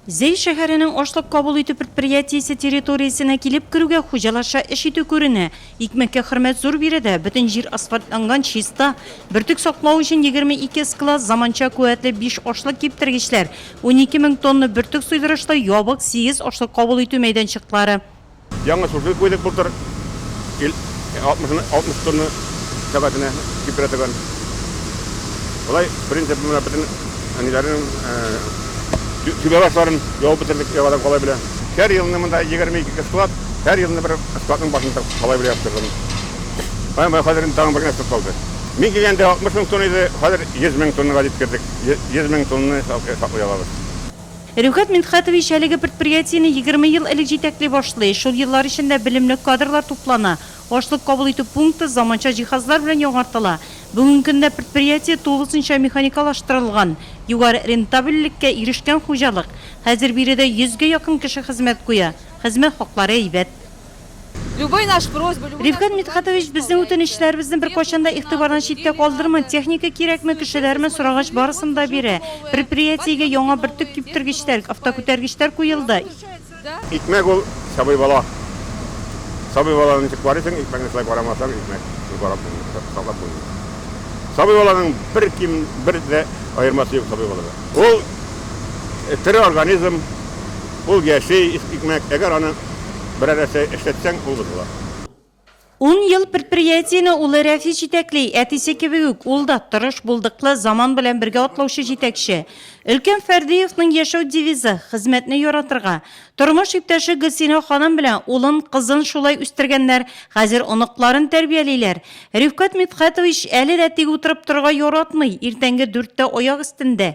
Зәй шәһәренең ашлык кабул итү предприятиесе территориясенә килеп керүгә хуҗаларча эш итү күренә. Икмәккә хөрмәт зур биредә, бөтен җир асфальтланган, чиста. Бөртек саклау өчен 22 склад, заманча куәтле биш ашлык киптергечләр, унике мең тонна бөртек суйдырышлы ябык сигез ашлык кабул итү мәйданчыклары. Яңа шуфлер куйдык былтыр. 60 тонна сәгатенә температураны. Болай, в принципе, менә бөтен әниләрнең түбәбашларын явып бетердек, яңадан калай белән. Һәр елны монда 22 склад, һәр елны бер складның башын калай белән яптырдым. Менә хәзер инде тагын бер генә склад калды. Мин килгәндә 60 мең тонна иде, хәзер 100 мең тоннага җиткердек. 100 мең тонна саклый алабыз. Рифгать Мидхәтович әлеге предприятиене егерме ел элек җитәкли башлый. Шул еллар эчендә белемле кадрлар туплана, ашлык кабул итү пункты заманча җиһазлар белән яңартыла. Бүгенге көндә предприятие тулысынча механикалаштырылган, югары рентабельлеккә ирешкән хуҗалык. Хәзер биредә йөзгә якын кеше хезмәт куя. Хезмәт хаклары әйбәт. Ревкат Мидхатович, безнең үтенечләребезне беркайчан да игътибардан читтә калдырмый, техника кирәкме, кешеләрме сорагач, барысын да бирә. Предприятиегә яңа бөртек киптергечләр, автокүтәргечләр куелды. Икмәк ул, сабый бала. Сабый баланы ничек карыйсың, икмәкне шулай карамасаң, икмәк карап булмый, саклап булмый. Сабый баланың бер ким, бер дә аермасы юк сабый балада. Ул, тере организм, ул яши, икмәк, әгәр аны. берәр нәрсә эшләтсәң, ул бозыла. Ун ел предприятиене улы Рәфис җитәкли. Әтисе кебек үк, ул да, тырыш, булдыклы, заман белән бергә атлаучы җитәкче. Өлкән Фәрдиевның яшәү девизы, хезмәтне яратырга. Тормыш иптәше Гөлсинә ханым белән улын, кызын шулай үстергәннәр, хәзер оныкларын тәрбиялиләр. Рифкать Мидхәтович әле дә тик утырып торырга яратмый, иртәнге дүрттә аяк өстендә.